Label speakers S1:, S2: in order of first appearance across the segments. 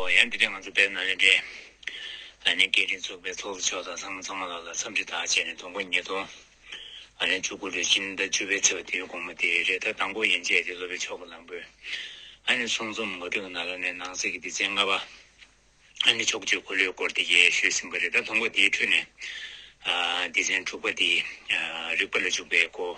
S1: ཨོ་ཡང་དེ་རིང་ང་ཚོ་བེད་ན་ལེན་འདྲེ་ཨ་ནེ་སྐད་འཕྲིན་ཚོགས་པའི་ཚོགས་གཙོ་མཆོག་དང་ཚང་མ་ཚང་མ་ལགས་ལ་འཚམས་འདྲི་དག་བྱས་ནས་དོན་དགོང་ཉིད་དུ་ཨ་ལེན་བཅུ་དགུ་ལོའི་སྤྱིན་ཟླ་བཅུ་པའི་ཚེས་བ་དེའི་དགོང་མོ་དེའི་རེས་ད་དང་པོ་ཡན་ཆད་དེ་སློབ་པའི་ཆོ་ག་ལམ་བུ་ཨ་ནེ་གསུང་རྩོམ་ངོ་སྤྲོད་ཀྱི་ནང་ལ་ནས་ནང་གསེས་ཀྱི་སྡེ་ཚན་ལྔ་པ་ཨ་ནེ་ཕྱོགས་བཅུའི་འཁོར་ལོའི་སྐོར་དེ་ཡེ་ཤུས་ཟིན་པ་རེད་ད་དོན་དགོང་དེའི་ཁྲོད་ནས་སྡེ་ཚན་དྲུག་པ་དེ་རིག་པ་ལ་འཇུག་པའི་སྐོར་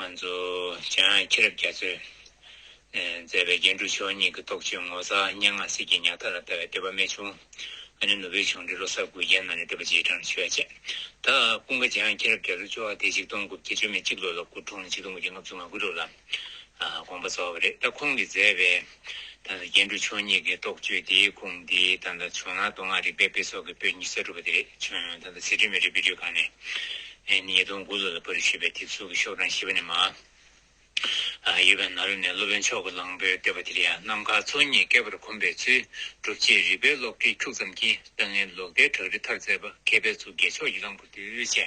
S1: ང་ཚོ་གཞན་ཡང་ཁྱི་རབས་རྒྱ་མཚོས་མཛད་པའི་རྒྱན་དྲུག་མཆོག་གཉིས་ཀྱི་རྟོགས་བརྗོད་ངོ་མཚར་སྙན་ངག་གསེར་གྱི་ཉག་ཐག་ལ་ལྟ་བའི་བསྟོད་པ་རྨད་བྱུང་ཨ་ནེ་ནུ་བོའི་ཆུང་འདྲིས་ལོ་སར་གུར་རྒྱན་གནང་ནས་བསྟོད་པ་རྗེས་འབྲང་ལ་ཞུ་བ་བྱས། ད་སྤུན་ཀ་འཇང་ཁྱི་རབས་རྒྱ་མཚོས་ཅོ་བ་དེ་ཆིག་སྟོང་དགུ་བརྒྱ་བཅོ་མེད་གཅིག་ལོ་ལ་སྐུ་འཁྲུངས་ལ་ཆིག་སྟོང་དགུ་བརྒྱ་ལྔ་བཅུ་ང་དགུ་ལོ་ལ་དགོངས་པ་རྫོགས་པ་རེད་ད་ཁོང་གིས་མཛད་པའི་ད་ལྟ་སྐྱེ་འགྲོ་ཆོས་ཉིད་ཀྱི་རྟོགས་བརྗོད་དེའི་ཁུངས་འདི་ད་ལྟ་བྱུང་ན་མདོ་སྔགས་རིག་པའི་དཔེ་སོགས་ཀྱི་པོད་གཉིས་གསར་སྒྲུབ་པ་དེ་རེད་བྱུང་ད་ལྟ་ཚིག་དྲི་མེད་རིག་པའི་རྒྱུད་ཁང་ནས་ཉིས་སྟོང་དགུ་ལོ་ལ་པར་ཞེས་པའི་དེབ་གཟུགས་ཀྱི་ཤོག་གྲངས་བཞི་པ་ནས་མ་ཡོད་པའི་ནཱ་རོ་ནས་སློབ་དཔོན་མཆོག་གི་གླང་པོའི་བསྟོད་པ་དེ་ཡང་ནམ་མཁའ་མཚོ་གཉིས་བསྐལ་པར་གོམས་པའི་ཚུལ་སྒྲུབ་ཅེས་རིག་པའི་ལོགས་བྲིས་འཁྱུག་ཙམ་གྱིས་ཏཱ་ལའི་ལོག་ལྟའི་བྲག་རི་མཐར་བཙལ་པ་མཁས་པའི་གཙུག་རྒྱལ་མཆོག་གི་གླང་པོ་གདུལ་བྱའི་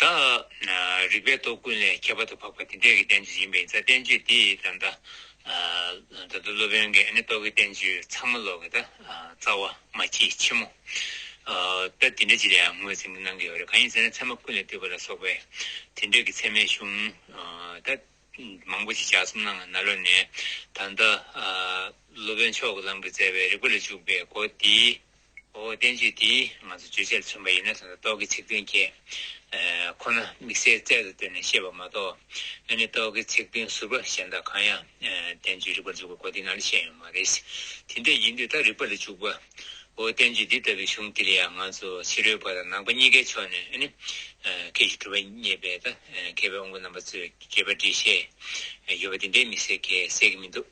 S1: དང། རིག་པའི་སྟོབས་ཀུན་ལས་ཁྱད་པར་དུ་འཕགས་པ་དེ་འདྲའི་བསྟན་བཅོས་ཡིན་པས་ཡིན་ཚ་བསྟན་བཅོས་དེ་ད་ལྟ། ད་ལྟ་སློབ་དཔོན་གྱི་ཨ་ནེ་རྟོག་གེ་བསྟན་བཅོས་ཚང་མ་ཀློག་གི་ད་རྩ་བ་མ་སྐྱེས་ཕྱི་མོ། ད་དེ་འདྲ་ཅི་ལའང་ངོས་ཟིན་གྱི་གནང་གི་ཡོད་རེད་གང་ཡིན་ཟེར་ན་ཚད་མ་ཀུན་ལས་བཏུས་པ་ལ་སོགས་པའི་དེ་འདྲའི་གི་ཚད་མའི་གཞུང་ད་མང་པོ་ཞིག་ཞག་གསུམ་ནང་ང་ན་ལོ་ནས་ད་ལྟ། སློབ་དཔོན་མཆོག་གི་ལམ་གྱི་བཙལ་བའི་རིག་པ་ལ་བཅུག་པའི་སྒོ་དེའི། འོ་བསྟན་བཅོས་འདིས་ང་ཚོ་བརྗོད་བྱ་ལ་མཚོན་པ་ཡིན་ན་དོན་དུ་རྟོག་གེའི་ཚིག་དོན་ཁྱད་ཁོ་ན་དམིགས་བསལ་རྩལ་དུ་བཏོན་ནས་བཤད་པ་མ་གཏོགས་ཨ་ནི་རྟོག་གེའི་ཚིག་དོན་ཟུར་པ་གཞན་དག་གང་ཡང་བསྟན་བཅོས་རིག་པར་འཇུག་པའི་གོ་དེ་ན་ལ་བཤད་ཡོད་མ་རེད། དེ་འདྲ་ཡིན་དུས་ད་རིག་པ་ལ་འཇུག་པ། འོ་བསྟན་བཅོས་འདི་ལྟ་བུའི་གཞུང་འདིར་ཡང་ང་ཚོ་ཕྱི་རོལ་པ་དང་ནང་པ་གཉིས་ཀའི་ཕྱོགས་ནས་ཨ་ནི་ཁྱེད་ཀྱིས་གྲུབ་པ་བརྙེས་པའི་ད་གེ་བའི་དབང་པོ་རྣམ་པ་ཚོའི་དགེ་བ་འབྲི་བཞེད་ཡོད་པ་དེ་འདྲའི་དམིགས་བསལ་གེགས་སེལ་གྱི་མི་འདུག།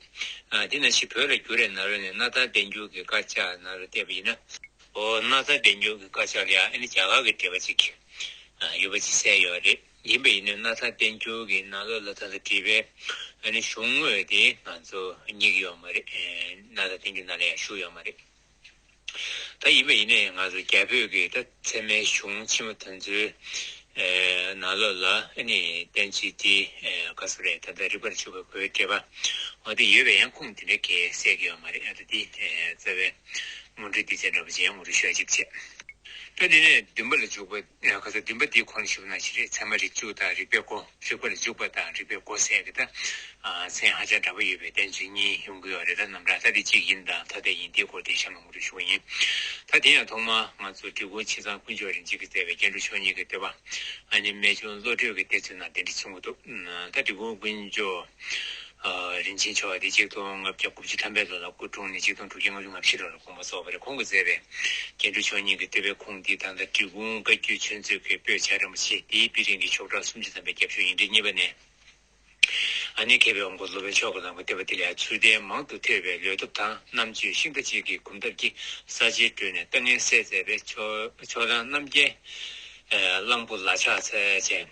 S1: དེ་ན་ཕྱིས་བོད་ལ་བསྒྱུར་རས་ན་རོ་ནས་ན་ཚ་བདེ་འགྱུར་གྱི་དཀར་ཆག་ན་རོ་བལྟས་པ་ཡིན་ན། འོ་ན་ཚ་བདེ་འགྱུར་གྱི་དཀར་ཆག་ལ་ཡང་ཨ་ནི་བྱ་གག་གི་འདྲེས་པ་ཅིག་ཡོད་པ་ཅིག་གསལ་ཡོད་རེད། ཡིན་པ་ཡིན་ན་ན་ཚ་བདེ་འགྱུར་གྱི་ན་ལོ་ལ་ད་ལྟ་བྲིས་པའི་ཨ་ནི་གཞུང་དངོས་དེ་ང་ཚོ་སྙིགས་ཡོད་མ་རེད། ན་ཚ་བདེ་འགྱུར་ན་ལ་ཡང་བཞུགས་ཡོད་མ་རེད། ད་ཡིན་པ་ཡིན་ན་ཡང་ང་ཚོ་རྒྱ་བོད་ཀྱི་ད་ཚད་མའི་གཞུང་ཆེན་མོ་དེ་ཚོའི་ནང་ལོགས་ལ་ནི་བསྟན་བཅོས་འདི་དགའ་བསུ་རེད་ད་ལྟ་རིག་པར་ཆུག་པའི་གོས་སྤྲས་པ་འོ་དེ་ཡོད་པས་ཡང་ཁུངས་དེ་འདྲའི་གེ་སད་གི་ཡོད་མ་རེད་ཨ་ད་དེ་རྩ་བའི་མུ་འབྲེལ་འདི་བྱས་འདྲ་པོ་ཅི་ཡང་མུ་འབྲེལ་ཤོད་ཅིག་བྱས། ད་འདི་ནས་བདུན་པ་ལ་འཇུག་པ། ཡང་ག་ཚོད་བདུན་པ་འདིའི་ཁོ་ནས་ཞུགས་ན་ཅི་རེད་ཚད་མ་རིགས་གཅིག་དང་རིགས་པའི་སྒོ་རིགས་པ་ལ་འཇུག་པ་དང་རིགས་པའི་སྒོ་ཟེར་ཡང་གི་ད་ཚན་ཧ་ཅང་འདྲ་པོ་ཡོད་པས་བདེན་བརྫུན་གཉིས་ཡོང་གི་ཡོད་རེད་ད་ནམ་ར་ད་དེ་གཅིག་ཡིན་དང་ཐ་དད་ཡིན་དེའི་སྐོར་དེ་གཞན་མང་པོ་རེ་ཞུ་བ་ཡིན་ད་དེ་ཡང་ཐོག་མ་ང་ཚོ་བཀྲིས་སྒོ་ཕྱི་ཚང་དཀོན་མཆོག་རིན་ཆེན་གི་བསྩལ་བའི་སྐྱེ་འགྲོ་མཆོག་གཉིས་ཀྱི་བསྟོད་པ་ཨ་མྱེ་རྨད་བྱུང་བློ་གྲོས་ཀྱི་གཏེར་ཚུལ་ནང་དེ་འདྲི་ཚུལ་འགོ་འདུག་ད་བཀྲིས་སྒོ་དཀོན་མཆོག། རིན་ཆེན་ཆེ་བ་འདི་གཅིག་སྟོང་ལྔ་བརྒྱ་དགུ་བཅུ་ཐམ་པའི་ལོ་ན་སྐུ་འཁྲུངས་ནས་གཅིག་སྟོང་དྲུག་བརྒྱ་ལྔ་བཅུ་ང་བཞི་ལོར་དགོངས་པ་རྫོགས་པ་རེ་ཁོང་གིས་མཛད་པས། སྐྱེ་འགྲོ་ཆོས་ཉིད་ཀྱི་བསྟོད་པའི་ཁུངས་འདི་ད་ལྟ་འབྲི་གུང་བཀའ་བརྒྱུད་ཆོས་མཛོད་ཀྱི་པོད་ཆགས་རིན་པོ་ཆེ་འདིའི་དཔེ་རིན་གྱི་ཕྱོགས་གྲངས་སུམ་ཅུ་ཐམ་པའི་རྒྱབ་ཆོས་ཡིག་འབྲི་གཉིས་པ་ནས། ཨ་ནེ་མཁས་པའི་དབང་པོ་སློབ་དཔོན་མཆོག་གི་ལམ་གྱི་བསྟན་པ་འདི་ལས་ཚུལ་ལྡན་མང་དུ་ཐོས་པའི་ལོས་སྟོབས་དང་རྣམ་དཔྱོད་ཤིང་རྟ་གཅིག་གི་གོམ་སྟབས་ཀྱིས་ས་ཆེན་བགྲོད་ནས་ལྟ་ངན་བསལ་མཛད་པའི་ཕྱོགས་གྲངས་རྣམ་རྒྱལ། གླང་པོ་ལ་ཕྱག་འཚལ་ཅན།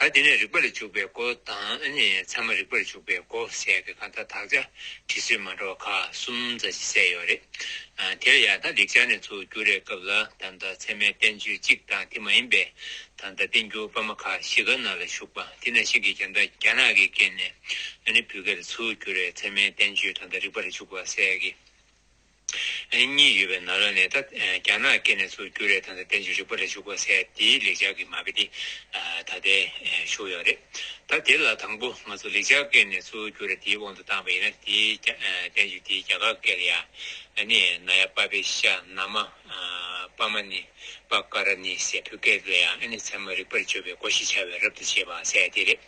S1: ད་དེ་ནས་རིག་པ་ལ་འཇུག་པའི་སྒོ་དང་ནི་ཚད་མ་རིག་པར་འཇུག་པའི་སྒོ་ཟེར་གི་གང་ལྟར་དག་ཆ་དྲི་བསུས་མ་འདྲ་བ་ཁག་གསུམ་རྩ་ཆེ་གསལ་ཡོད་རེད། དེ་ལ་ཡང་ད་ལེགས་སྦྱར་ནས་ཚུར་བསྒྱུར་རེས་སྐབས་ལ་ད་ལྟ་ཚད་མའི་བསྟན་བཅོས་གཅིག་དང་དེ་མ་ཡིན་པའི་ད་ལྟ་བསྟན་འགྱུར་པ་མ་ཁ་བཞི་ག་ན་ལ་བཞུགས་པ་དེ་ན་ཞིག་གིས་ཀྱང་ད་རྒྱ་ནག་གིས་བཀལ་ནས་ནི་བུ་ག་ལ་ཚུར་བསྒྱུར་རེས་ཚད་མའི་བསྟན་བཅོས་ད་ལྟ་རིག་པ་ལ་འཇུག་པ་ཟེར་གི། གཉིས་ཡོད་པའི་ནང་ལ་ནས་ད་རྒྱ་ནག་སྐད་ནས་ཚུར་བསྒྱུར་རེད་དང་ད་བསྟན་བཅོས་རིག་པ་རེད་བཞུགས་པ་སའི་དེའི་ལེགས་སྦྱར་གྱི་མ་དཔེ་དེ་ད་ལྟའི་བཞུགས་ཡོད་རེད་ད་དེ་ལ་དང་པོ་ང་ཚོ་ལེགས་སྦྱར་སྐད་ནས་ཚུར་བསྒྱུར་རེད་དེའི་དབང་དུ་བཏང་བ་ཡིན་ན་དེའི་བསྟན་བཅོས་དེའི་རྒྱ་གར་སྐད་ལ་ཡ་ནི་ན་ཡ་པ་པེ་ཤ་ན་མ་པ་མ་ནི་པ་ཀ་ར་ནི་སའི་བོད་སྐད་ལ་ཡ་ནི་ཚད་མ་རིག་པར་བཅོས་པའི་སྒོ་ཞེས་བྱ་བའི་རབ་ཏུ་བྱེད་པ་སའི་དེ་རེད།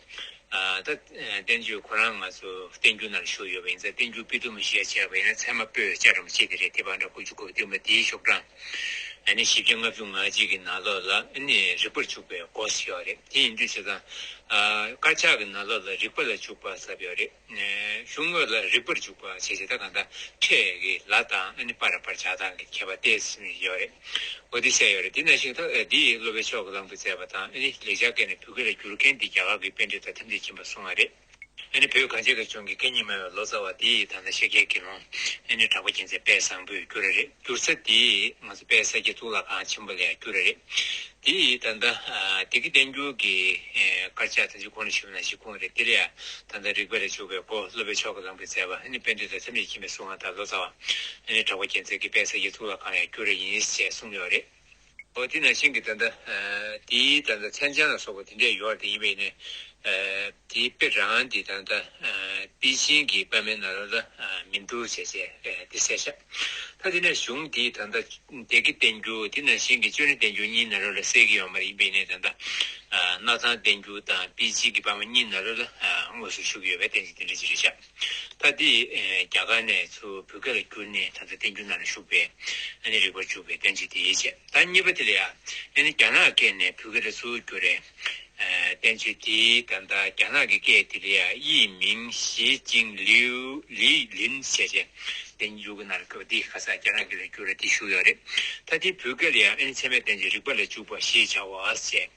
S1: ད་བསྟན་བཅོས་ཁོ་རང་ང་ཚོ་བསྟན་འགྱུར་ནང་ཞུགས་ཡོད་པ་ཡིན་ཙང་བསྟན་འགྱུར་སྤུས་དོམ་མི་ཤེས་ཡ་ཆེ་བ་ཡིན་ན་ཚད་མ་པོས་བཅའ་རམ་ཅི་དེ་རེད་དེ་བ་འདྲ་ཁུ་བྱུག་གོ་བསྟན་པ་དེའི་ཤོག་གྲངས་ཨ་ནི་བཞི་བརྒྱ་ལྔ་བཅུ་ང་གཅིག་གི་ནང་ལོགས་ལ་ཨ་ནི་རིག་པར་བྱུག་པའི་གོ་ས་ཡོག་རེད་དེ་ཡིན་དུས་ཆོས་ཚང་དཀར་ཆག་གི་ནང་ལོགས་ལ་རིག་པ་ལ་བྱུག་པ་ཟབ་ཡོག་རེད། གཞུང་དངོས་ལ་རིག་པར་འཇུག་པ་བྱེད་བྱེད་ད་གང་ད་ཁྲེ་ཀི་ལ་དང་ཨ་ནི་པ་ར་པར་བྱ་དང་གི་ཁྱད་པར་ཏེ་སིམ་ཡོད་རེད་འོ་དེ་བཤད་ཡོད་རེད་དེ་ན་ཞིག་ཐོ་འདི་ཡིས་སློབ་པའི་ཕྱོགས་ཀི་ལམ་དུ་བཙལ་བ་དང་ཨ་ནི་ལེགས་སྦྱར་སྐད་ནས་བོད་སྐད་ལ་བསྒྱུར་མཁན་དེ་རྒྱ་གར་གི་དཔེ་འགྲེལ་དང་ཐེམ་ཐིག་ཁྱིམ་པར་སོང་བ་རེད་ཨ་ནི་བོད་གངས་ཅན་ཁ་ཆུང་གི་སྐད་གཉིས་སྨྲ་བའི་ལོ་ཙཱ་བ་དེ་ཡིས་ད་ནང་ཤེས་རྒྱལ་དགེ་སློང་ཨ་ནི་གྲགས་པ་རྒྱལ་མཚན་དཔལ་བཟང་པོས་བསྒྱུར་རེད། བསྒྱུར་ས་དེ་ང་ཚོ་དཔལ་ས་སྐྱའི་གཙུག་ལག་ཁང་ཆེན་པོ་ལས་བསྒྱུར་ར་རེད། དེ་ཡིས་ད་ལྟ་སྡེ་དགེ་བསྟན་འགྱུར་གྱི་དཀར་ཆག་དང་ཅུ་གོ་ནི་ཆུ་ནང་ཤི་ཁུངས་རེད་དེ་ལས་ད་ལྟ་རིག་པ་ལས་བྱུགས་པའི་སྒོ་སློབ་པའི་མཆོག་གི་ལམ་གྱི་མཛད་པ་ནི་དཔལ་འདུས་དང་ཚེམས་རྗེ་མཁྱེན་པའི་གསུང་ང་དང་ལོ་ཙཱ་བ་ནི་གྲགས་པ་རྒྱལ་མཚན་གྱི་དཔལ་ས་སྐྱའི་གཙུག་ལག་ཁང་ལས་བསྒྱུར་ར་ཡིན་ཞེས་གསུངས་ཡོད་རེད། འོ་དེས་ན་ཤིང་གི་དོན་དང། དེའི་དོན་དང་མཚན་ཅན་ལ་སོགས་པ་དེ་འདྲས་ཡོད་དེ་ཡིན་པས་ནི། དེའི་དཔེ་རང་གི་དོན་དང། དཔེའི་ཤིང་གི་པདྨའི་ནཱ་རོ་ལ་མི་འགྲུབ་ཞེས་བྱའི་དེ་གསལ་བྱ། ད་དེ་ནས་གཞུང་དེའི་དོན་དང། དེ་ཀའི་བསྟན་འགྱུར་དེས་ན་ཤིང་གི་ཅོ་ནེའི་བསྟན་འགྱུར་གཉིས་ནཱ་རོ་ལ་གསལ་གྱི་ཡོད་མ་ཡིན་པས་ནི་དོན་དང། སྣག་ཚང་བསྟན་འགྱུར་དང་དཔེའི་ཤིང་གི་པདྨ་གཉིས་ནཱ་རོ་ལ་དངོས་སུ་བཞུགས་ཡོད་པས་བསྟན་ཅིང་དེ་འདྲས་ཀྱི་རེ་བྱ། ད་འདི་རྒྱ་གར་ནས་ཚུར་བོད་སྐད་ལ་བསྒྱུར་ནས་ད་ལྟ་བསྟན་འགྱུར་ནང་ལ་བཞུགས་པས་ཨ་ནི་རིག་པར་འཇུག་པའི་དོན་ཅིག་དེ་ཡིད་ཆེས་ད་གཉིས་པ་དེ་ལ་ཡང་ཨ་ནི་རྒྱ་ནག་སྐད་ནས་བོད་སྐད་ལ་ཚུར་བསྒྱུར་རེ་བསྟན་ཚུལ་དེ་ད་ལྟ་རྒྱ་ནག་གི་སྐད་དེ་ལ་ཡང་དབྱིས་མིང་ཞི་ཅིང་ལིའུ་ལི་ལིན་ཞེས་བྱས། བསྟན་འགྱུར་གྱི་ནང་ལ་བཀོད་པ་འདི་ཁ་སང་རྒྱ་ནག་སྐད་ལ་བསྒྱུར་རེ་དེ་བཞུགས་ཡོད་རེད། ད་འདི་བོད་སྐད་ལ་ཡང་ཨ་ནི་ཚད་མའི་བསྟན་བྱའི་རིག་པ་ལ་འཇུག་པ་ཞེས་བྱའོ་ཞེས།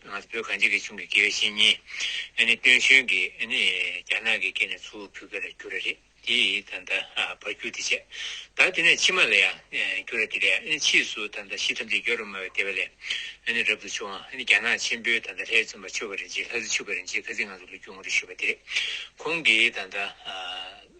S1: ང་ཚོ་བོད་གངས་ཅན་གྱི་གཞུང་གི་དགེ་བའི་བཤེས་གཉེན་སྟོན་གཞོན་གྱིས་རྒྱ་ནག་གི་སྐེ་ནས་ཚུར་བུད་ཀ་རེ་རྒྱུ་ར་རེད་དེ་ད་ལྟ་བར་རྒྱུ་དེ་བྱས་ད་དེ་ནས་ཕྱི་མ་ལ་ཡང་རྒྱུ་ར་དེ་རེད་ཕྱིས་སུ་ད་ལྟ་ཤི་ཐམས་ཅད་རྒྱལ་རོ་སྨྲ་བའི་དེ་བ་ལས་རབ་ཏུ་བྱུང་ཨ་ནི་རྒྱ་ནག་ཆེན་པོའི་ད་ལྟ་ལྷའི་བཙུན་པ་ཆོས་ཀ་རིན་ཆེན་ལྷ་བཟི་ཆོས་ཀ་རིན་ཆེན་ཁ་ཟི་ང་ཚོ་ལ་རྒྱུ་ངོ་རེ་ཞུས་པ་དེ་རེད་ཁོང་གིས་ད་ལྟ་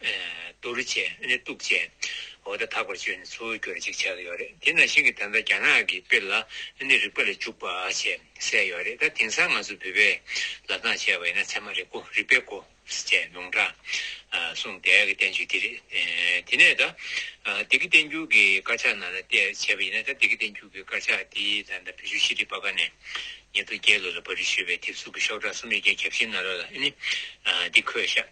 S1: བསྡུ་རུ་ཆེ་ནི་གཏུག་བྱེད་འོག་ཏུ་དག་པར་སྤྱོད་ནི་ཚུལ་འགྱུར་ཅིག་བྱས་ཀྱི་ཡོད་རེད་དེ་ནང་བཞིན་གྱི་ད་ལྟ་རྒྱ་ནག་གི་དཔེ་ལ་ནི་རིག་པ་ལས་འཇུག་པ་ཞེས་གསལ་ཡོད་རེད་ད་དེང་སང་ང་ཚོ་བོད་པས་ལབ་སྟངས་བྱས་པ་ཡིན་ན་ཚད་མ་རིག་གོ་རིག་པའི་གོ་ཞེས་ལུང་དྲངས་གསུངས་དེ་གི་བསྟན་བཅོས་འདི་རེད་དེ་ནས་ད་འདི་གི་བསྟན་འགྱུར་གྱི་དཀར་ཆག་ནང་ལ་བལྟས་བྱས་པ་ཡིན་ན་ད་འདི་གི་བསྟན་འགྱུར་གྱི་དཀར་ཆག་འདི་ད་ལྟ་བོད་ཆུ་ཤེས་རིག་པ་ཀ་ནས་ཉེ་དུ་བརྒྱད་ལོ་ལ་བ་རི་ཞུས་པའི་དེབ་གཟུགས་ཀྱི་ཤོག་གྲངས་གསུམ་ཡོད་རྒྱ་གྱ་བཞི་ན་རོ་ལ་ནི་འདི་འཁོད་ཤག།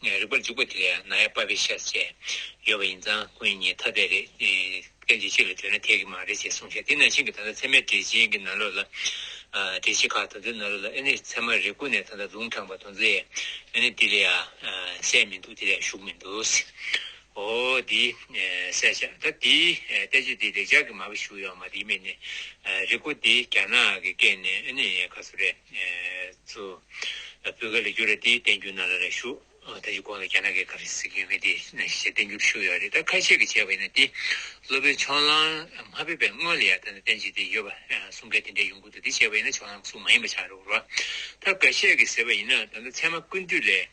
S1: ངའི་རིག་པར་འཇུག་པ་དེ་ཡང་ན་ཡ་པ་བི་ཤཱས་བྱས་ཡོད་པ་ཡིན་ཙང་སྐུ་ཉིད་ཉིད་ཐ་དད་རེད་དེ། གཏན་ཚིགས་གཅིག་ལ་ལྟོས་ན་ཐད་ཀྱི་མ་རེད་ཅེས་གསུངས་ཤིང་དེ་ནང་བཞིན་གྱི་ད་ལྟ་ཚད་མའི་འགྲེལ་ཆེན་གྱི་ནང་ལོགས་ལ། འགྲེལ་བྱེད་ཁག་དང་པོའི་ནང་ལོགས་ལ་ཨེ་ནི་ཚད་མ་རེ་ཀུན་ནས་ད་ལྟ་ལུང་དྲངས་པ་དང་ཛེ་ཨེ་ནི་དེ་ལས་གསལ་མི་འདུག་དེ་ལས་ཞུགས་མི་འདུག་ཨོ་དེ་གསལ་བྱ་ད་དེ་ལྟ་ཅི་དེ་ལེགས་སྦྱར་གྱི་མ་བི་ཞུགས་ཡོད་མ་དེ་ཡིན་མིན་ནི་རེ་ཀུ་དེ་རྒྱ་ནག་གི་སྐད་ནས་ཨེ་ནི་ག་ཚོད་རེད། ཚུལ། སྤུས་ཀ་ལས་རྒྱུ་རེད་དེ་བསྟན་རྒྱུ་ན་ལ་རེ་ཞུ། ད་ཡི་གོང་ལ་རྒྱ་ནག་གི་ཁ་བསིག་ཡོད་མེད་དེ་ཞེས་བསྟན་རྒྱུ་ཞུ་ཡོད་རེད་ད་ཁ་ཤས་ཀྱི་བྱས་པ་ཡིན་ན་དེ་སློབ་པའི་ཕྱོགས་ལང་མ་ཕེབས་པའི་སྔོན་ལ་ཡར་ད་ནས་བསྟན་བྱས་དེ་ཡོད་པ་གསུང་སྐད་དེ་འདྲའི་ཡོང་ཁུལ་དུ་དེ་བྱས་པ་ཡིན་ན་ཕྱོགས་ལང་གསུང་མ་ཡིན་པ་ཆགས་རེད་བོར་བ། ད་ག་ཤས་ཀྱི་ཟེར་བ་ཡིན་ན་ད་ད་ཚད་མ་ཀུན་བཏུས་ལས།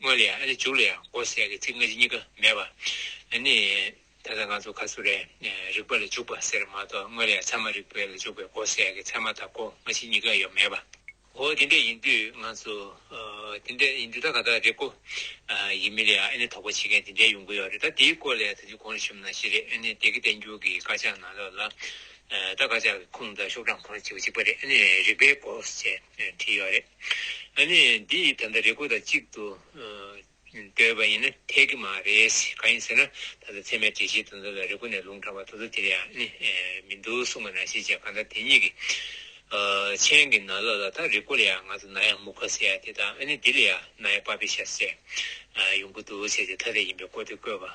S1: དངོས་ལ་ཡང་ཨ་ལས་འཇུག་ལ་ཡང་འོད་གསལ་གྱི་ཚིག་སྔ་ཕྱི་གཉིས་ཀ་མེད་པ། ནི། ད་ལྟ་ང་ཚོ་ག་ཚོད་རེད་ནས་རིག་པ་ལ་འཇུག་པ་ཟེར་མ་གཏོགས་དངོས་ལ་ཡང་ཚད་མ་རིག་པའི་ལ་འཇུག་པའི་འོད་གསལ་གྱི་ཚད་མ་དང་པོ་སྔ་ཕྱི་གཉིས་ཀ་ཡོད་མེད་པ། འོ་དེ་འདྲ་ཡིན་དུས་ང་ཚོ། དེ་འདྲ་ཡིན་དུས་ད་ག་དག་རེད་ཀོ། ཡིན་མིན་ལ་ཡང་ཨེ་ནས་དོགས་པ་བྱེད་མཁན་དེ་འདྲའི་ཡོང་གི་ཡོད་རེད་ད་དེའི་སྐོར་ལ་ཡང་ད་དུས་གོང་རེ་ཞུམ་ན་ཞེ་རེད་ཨེ་ནས་དེ་གི་བསྟན་འགྱུར་གྱི་དཀར་ཆག་ནང་ལོགས་ལ། ད་དཀར་ཆག་གི་ཁུངས་དང་ཤོག་གྲངས་ཁོ་ན་བྱེད་པ་གཅིག་པ་རེད་ཨེ་ནས་རིག་པའི་སྐོར་ཞེས་བྲིས་ཡོད་རེད། ཨ་ནི་འདི་ཡིས་ད་ལྟ་རེ་སྒུག་དང་གཅིག་ཏུ་སྡོད་པ་ཡིན་ན་འཐད་ཀྱི་མ་རེད། གང་ཡིན་ཟེར་ན་ད་ལྟ་ཚད་མའི་གྲལ་བཤེར་དུ་འཛོམས་ལ་རེ་སྒུག་ནས་ལུང་དྲངས་པ་དོ་དོ་དེ་རེད་ཨ་ནི་མི་འདུག་གསུངས་པ་ན་ཤེས་བྱའི་གང་ཟག་དེ་ཉིད་ཀྱིས། མཆན་གྱི་ན་ལོ་ལ་ད་རེ་སྒུག་ལ་ཡང་ང་ཚོ་ན་ཡང་མུ་ཁ་ཟེར་ཡ་དེ་དང་ཨ་ནི་འདི་ལ་ཡང་ན་ཡང་པ་པི་ཤ་ཟེར་ཡོང་གི་འདུག་བྱས་རྗེས་ཐ་དད་ཡིན་པའི་སྐོར་དེ་བཀོད་པ།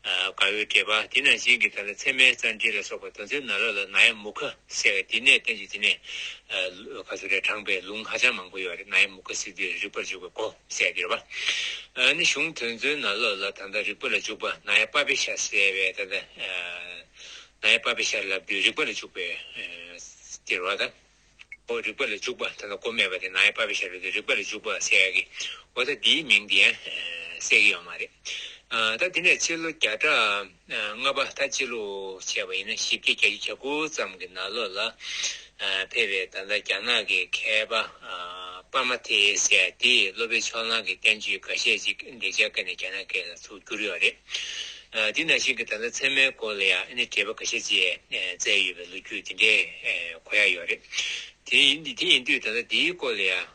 S1: དགའ་བའི་སྐལ་པ་དེ་ནང་བཞིན་གྱི་དག་ལ་མཚན་མའི་རྩར་འདྲིལ་ལ་སོགས་པ་དོན་མཚོན་ན་ལ་ལ་ན་ཡ་མུ་ཁ་བསྲེ་བས་དེ་ནས་བསྟན་བཅོས་དེ་ནས་ག་ཚོད་རེ་དྲངས་པའི་ལུང་ཧ་ཅང་མང་པོ་ཡོད་རེད་ན་ཡ་མུ་ཁ་བསྲེ་དུས་རེ་རིག་པར་འཇུག་པའི་གོ་གསལ་འདིར་བ་ནི་གཞུང་དོན་མཚོན་ན་ལ་ལ་དང་དང་རིག་པ་ལ་འཇུག་པ་ན་ཡ་པ་པའི་ཤ་བསྲེ་བས་ད་ད་ན་ཡ་པ་པའི་ཤར་ལབ་དུས་རིག་པ་ལ་འཇུག་པའི་འདིར་བ་དང། པོ་རིག་པ་ལ་འཇུག་པ་དེ་ལ་སྒོ་མེད་པ་དེ་ནའི་བ་བའི་ཤ་རུས་དེ་རིག་པ་ལ་འཇུག་པ་ཟེར་ཡ་གི། འོ་ད་འདིའི་མིང་དེ་གསལ་གི་ཡོད་མ་རེད། ད་འདི་ནས་སྤྱི་ལོ་བརྒྱ་ཕྲག་ལྔ་པ་ད་སྤྱི་ལོའི་བྱས་པ་ཡིན་ན་བཞི་བརྒྱ་གྱ་བཞི་གྱ་དགུ་ཙམ་གི་ན་ལོ་ལ་ཕེབས་པའི་ད་ལྟ་རྒྱ་ནག་གི་མཁས་པ་པར་མ་ཐེ་ཡེ་སེ་དེས་སློབ་དཔོན་ཕྱོགས་གླང་གི་བསྟན་བཅོས་འགའ་ཤས་ཅིག་འདེགས་འཇགས་སྐེ་ནས་རྒྱ་ནག་སྐད་ལ་ཚུར་བསྒྱུར་ཡོད་རེད། འདི་ནང་བཞིན་གྱི་ད་ལྟ་ཚད་མའི་སྐོར་ལ་ཡང་ཨ་ནི་བྲིས་པ་འགའ་ཤས་བཅས་བསྩལ་ཡོད་པའི་ལོ་རྒྱུས་འདི་འདྲའི་གོ་ཡ་ཡོད་རེད། དེ་ཡིན་དུས་ད་ལྟ་འདིའི་སྐོར་ལ་ཡང་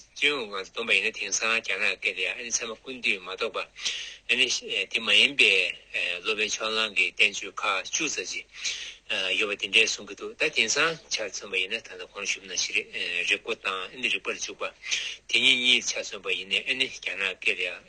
S1: སྤྱི་ཡོངས་ངང་དུ་བསྡོམས་པ་ཡིན་ན་དེང་སང་རྒྱ་ནག་སྐད་དུ་ཡང་ཨ་ནི་ཚད་མ་ཀུན་བཏུས་མ་གཏོགས་པ་ཨ་ནི་དེ་མ་ཡིན་པའི་སློབ་མའི་ཕྱོགས་གླང་གི་བསྟན་བཅོས་ཁག་བཅུ་ཙམ་ཞིག་ཡོད་པ་འདི་འདྲའི་གསུང་གི་འདུག་ད་དེང་སང་ཆ་མཚོན་པ་ཡིན་ན་ད་ལྟ་གོང་ཞུས་པ་ནང་བཞིན་རིག་རིག་པོ་དང་ཨ་ནི་རིག་པར་འཇུག་པ་དེ་གཉིས་གཉིས་ཆ་མཚོན་པ་ཡིན་ནས་ཨ་ནི་རྒྱ་ནག་སྐད་དུ་ཡང།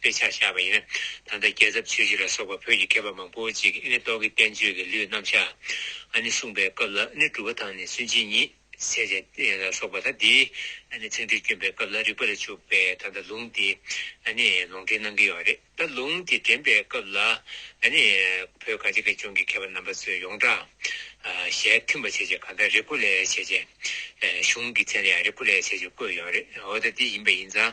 S1: དཔེ་ཆར་བཞག་པ་ཡིན་ན་ད་ལྟ་རྒྱལ་ཚབ་ཆོས་རྗེ་ལ་སོགས་པ་བོད་ཀྱི་མཁས་པ་མང་པོ་ཅིག་གིས་ནི་རྟོག་གེ་བསྟན་བཅོས་ཀྱི་ལུས་རྣམ་གཞག་ཨ་ནི་གསུངས་པའི་སྐབས་ལ་ནི་གྲུབ་པ་དང་ནི་སུན་འབྱིན་ཉིད་བསལ་བྱ་ལ་སོགས་པ་ད་ལྟའི་ཨ་ནི་ཚིག་འགྲོས་བསྐྱོན་པའི་སྐབས་ལ་རིགས་པ་ལ་བཅུག་པས་ད་ལྟ་ལུང་དེ་ཨ་ནི་ལུང་འདྲེན་གནང་གི་ཡོད་རེད་ད་ལུང་དེ་འདྲེན་པའི་སྐབས་ལ་ཨ་ནི་བོད་གངས་ཅན་དགེ་སྦྱོང་གི་མཁས་པ་རྣམ་པ་ཚོས་ཡོངས་གྲགས་ཞལ་མཐུན་པ་བྱས་རྗེས་གང་ལྟར་རེ་སྐུ་ལས་བྱས་རྗེས་གཞུང་གི་མཚན་ལ་ཡང་རེ་སྐུ་ལས་བྱས་རྗེས་བཀོད་ཡོད་རེད་འོ་ད་འདི་ཡིན་པ་ཡིན་ཙང་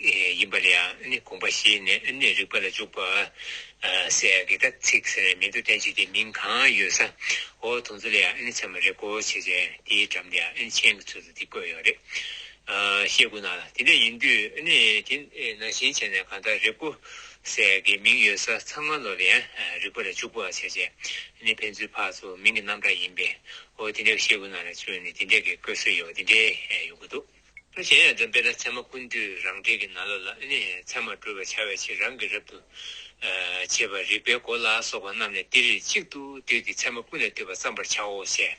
S1: ཡིན་པ་ལ་ཡང་དགོངས་པ་བཞེས་ནས་རིགས་པ་ལ་འཇུག་པ། སའི་གེ་དག་ཚིག་ཟེར་བའི་མིང་དུ་བསྟན་བྱས་ཏེ་མིང་གང་ཡོད་ས་འོག་དུང་ཚོ་ལ་ཡང་ཚད་མ་རེ་གོ་བྱེད་ཅིང་དེའི་འགྲམ་དུ་ཡང་མཆན་གྱི་ཚུལ་དུ་འདི་བཀོད་ཡོད་རེད། ཞེས་བཀོད་ན་དེ་འདྲ་ཡིན་དུས་དེ་ནང་བཞིན་བྱས་ནས་གང་ལྟར་རེ་གོ། སའི་གེ་མིང་ཡོད་ས་ཚང་མ་ལོ་ལ་ཡང་རིགས་པ་ལ་འཇུག་པ་བྱས་ཅིང་ཕན་ཚུན་ཕག་ཚོ་མིང་གི་རྣམ་གྲངས་ཡིན་པས་འོ་དེ་འདྲ་ཞེས་བཀོད་ན་ལ་ཅུང་ནི་དེ་འདྲ་གི་བཀོད་སྲོལ་ཡོད་དེ་འདྲའི་ཡོང་གི་འདུག། ཁྱོད་གཞན་ཡང་འདོན་པས་ན་མཚན་མ་ཀུན་འདུས་རང་འབྲས་ཀྱི་ན་ལོ་ལ་ནི་མཚན་མར་སྤྲོ་བས་འཆར་བའི་ཕྱིར་རང་གི་རབ་ཏུ་བྱེད་པ་རིགས་པའི་སྒོ་ལ་སོགས་པ་རྣམས་ནི་ཏིལ་རིལ་གཅིག་ཏུ་བསྡུས་ཏེ་མཚན་མ་ཀུན་ལས་བཏུས་པ་བརྩམ་པར་བྱའོ། ཞེས་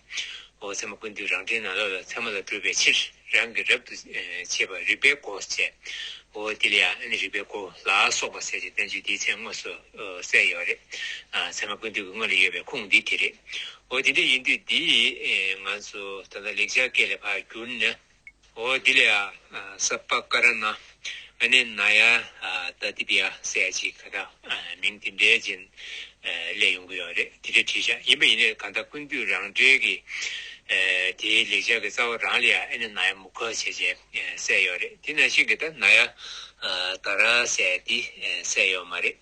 S1: འོ་མཚན་མ་ཀུན་འདུས་རང་འབྲས་ན་ལོ་ལ་མཚན་མ་ལ་སྤྲོས་པའི་ཕྱིར་རང་གི་རབ་ཏུ་བྱེད་པ་རིགས་པའི་སྒོ་ཞེས་འོ་ཏིལ་ཡང་ནི་རིགས་པའི་སྒོ་ལ་སོགས་པ་ཟེར་ཞེས་བསྟན་བཅོས་འདིའི་མཚན་དངོས་སུ། གསལ་ཡོད་རེད། ཚད་མ་ཀུན་བཏུས་ཀྱི་སྔོན་ལ་ཡོད་པའི་ཁུངས་འདི་དེ་རེད། འོ་དེ་འདྲ་ཡིན་དུས་འདི་ང་ཚོ་ད་ལྟ་ལེགས་སྦྱར་སྐད་ལས་ཕར་གྱུར་ནས། འོ་དེ་ལས་ཨ་ས་པ་ཀ་ར་ན་ཨ་ནེ་ན་ཡ་ད་དི་པི་ཨ་སའི་ཅི་ག་ད་མིང་དེ་འདྲའི་རྗེན་ལས་ཡོང་གི་ཡོད་རེད་དེ་འདྲ་བྲིས་ཤག་ཡིན་པ་ཡིན་ནའི་གང་ལྟ་ཀུན་བཏུས་རང་འགྲེལ་གྱི་དེའི་ལེགས་སྦྱར་གྱི་རྩ་བ་རང་ལས་ཨ་ནེ་ན་ཡ་མུ་ཁ་བྱས་བྱས། སད་ཡོག་རེད་དེ་ན་ཤིག་གི་ད་ན་ཡ་ད་རང་སད་དེ་སད་ཡོག་མ་རེད་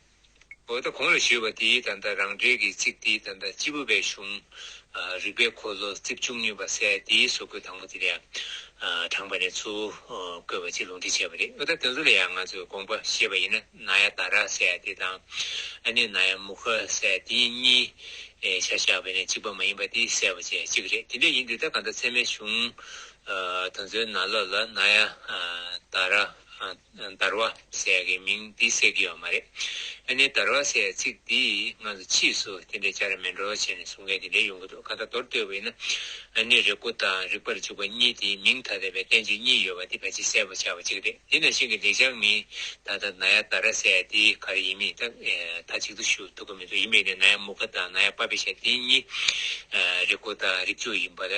S1: འོ་ད་གོང་ལ་ཞུས་པ་དེ་ད་ད་རང་འགྲེལ་གི་ཚིག་དེ་ད་ད་སྤྱི་བོ་པའི་གཞུང་རིག་པའི་འཁོར་ལོ་རྩིབས་བཅུ་གཉིས་པ་སད་དེ་སོ་བཀོད་དང་པོ་དེ་ལ་ཡ་དྲངས་པ་ནས་ཚུར་བཀོད་པ་གཅིག་ལུང་འདྲི་བྱས་པ་རེད་འོ་ད་དེ་ཚོ་ལ་ཡ་ང་ཚོས་དགོངས་པ་བཞེས་པ་ཡིན་ན་ན་ཡ་ད་ར་སད་དེ་དང་ཨ་ནི་ན་ཡ་མུ་ཁ་སད་དེ་གཉིས་ཆ་བཞག་པའི་ནས་གཅིག་པ་མ་ཡིན་པ་དེ་སད་པ་བཅས་གཅིག་རེད་དེ་འདྲ་ཡིན་དུས་ད་ག་ད་ཚད་མའི་གཞུང་ད་ཚོའི་ན་ལོ་ལ་ན་ཡ་ད་ར་དར་བ་སའི་གི་མིང་འདི་སེ་གི་ཡོད་མ་རེད་ཨ་ནི་དར་བ་སའི་ཚིག་འདི་ང་ཚོ་ཕྱིས་སུ་དེ་འདྲའི་བྱ་ར་མེད་འགྲོ་བྱས་ནས་གསུང་མཁན་དེ་འདྲའི་ཡོང་གི་འདུག་གང་ལྟར་མདོར་བསྡོད་པ་ཡིན་ན་ཨ་ནི་རེ་སྐུ་དང་རིག་པར་འཇུག་པ་གཉིས་དེ་མིང་ཐ་དད་པའི་བསྟན་བཅོས་གཉིས་ཡོད་པ་འདི་ཕལ་ཆེར་གསལ་པོ་ཆགས་པ་གཅིག་རེད་དེ་ནང་བཞིན་གི་འདེགས་བྱང་མིང་ད་ལྟ་ན་ཡ་ད་ར་སའི་དེ་ག་རེ་ཡིན་མིན་ཐག་ཐག་གཅིག་ཏུ་ཞུ་ཐུབ་ཀྱི་མི་འདུག་ཡིན་པས་ན་ན་ཡ་མུ་ཁ་དང་ན་ཡ་པ་པེ་ཤ་དེ་གཉིས་རེ་སྐུ་དང་རིག་འཇུག་ཡིན་པ་ལ་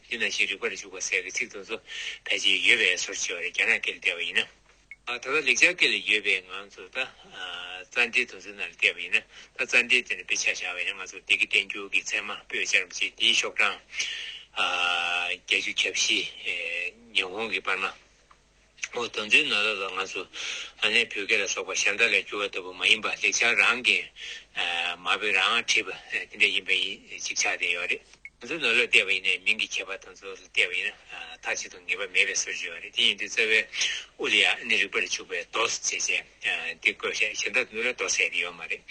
S1: འདི་ན་ཞེས་རིག་པ་ལ་ཞུགས་པ་སའི་གི་ཚིག་དང་སོ་ཕལ་ཆེར་ཡོད་པས་སོར་ཕྱེ་བ་རེ་རྒྱ་ནག་སྐད་ལ་བལྟས་པ་ཡིན་ན། ད་ལྟ་ལེགས་སྦྱར་སྐད་ལ་ཡོད་པས་ང་ཚོ་ད་རྩ་འགྲེལ་དུ་སོ་ན་ལ་བལྟས་པ་ཡིན་ན་ད་རྩ་འགྲེལ་དེ་ནི་དཔེ་ཆ་བཞག་པ་ཡིན་ན་ང་ཚོར་བདེ་སྐྱིད་བསྟན་འགྱུར་གྱི་ཚད་མ་པོད་བཅར་འབྲི་བྱེད་འདིའི་ཤོག་གྲངས་བརྒྱ་བཅུ་གྱ་བཞི། ཉི་ཧོང་གི་པར་མ། འོ་དོ་འཛིན་ནོ་ད་ལྟ་ང་ཚོ་ཨ་ནེ་བོད་སྐད་ལ་སོགས་པ་གཞན་དག་ལས་འགྱུར་བ་ལྟ་བུ་མ་ཡིན་པར་ལེགས་ཆ་རང་གིས་མ་བོས་རང་ཨ་བྲིས་པ་དེ་འདྲ་ཡིན་པ་ཅིག་ཆགས་བསྡད་ཡོད་རེད། ང་ཚོ་ནོར་ལ་བལྟས་པ་ཡིན་ནས་མིང་གི་ཁྱད་པར་དང་ཚོར་ལ་བལྟས་པ་ཡིན་ན་མཐའ་གཅིག་ཏུ་ངེས་པ་མེད་པའི་སྲོལ་བྱུང་ཡོད་རེད་དེ་ཡིན་དུས་རྩ་བའི་དབུ་ལ་ཡང་ཨ་ནེ་རིག་པ་ལ་བྱུགས་པའི་རྡོ་ཟེར་ཅེས་བྱས་དེ་བཀོད་བཤད་གཞན་དག་ཏུ་ནོར་ལ་རྡོ་ཟེར་ཡོད་མ་རེད་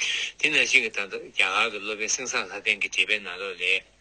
S1: དེ་ནང་བཞིན་གྱི་ད་ལྟ་རྒྱ་གར་གྱི་སློབ་དཔོན་སེང་བཟང་ལྷ་ལྡན་གྱི་འགྲེལ་པའི་ནང་ལོགས་ལས།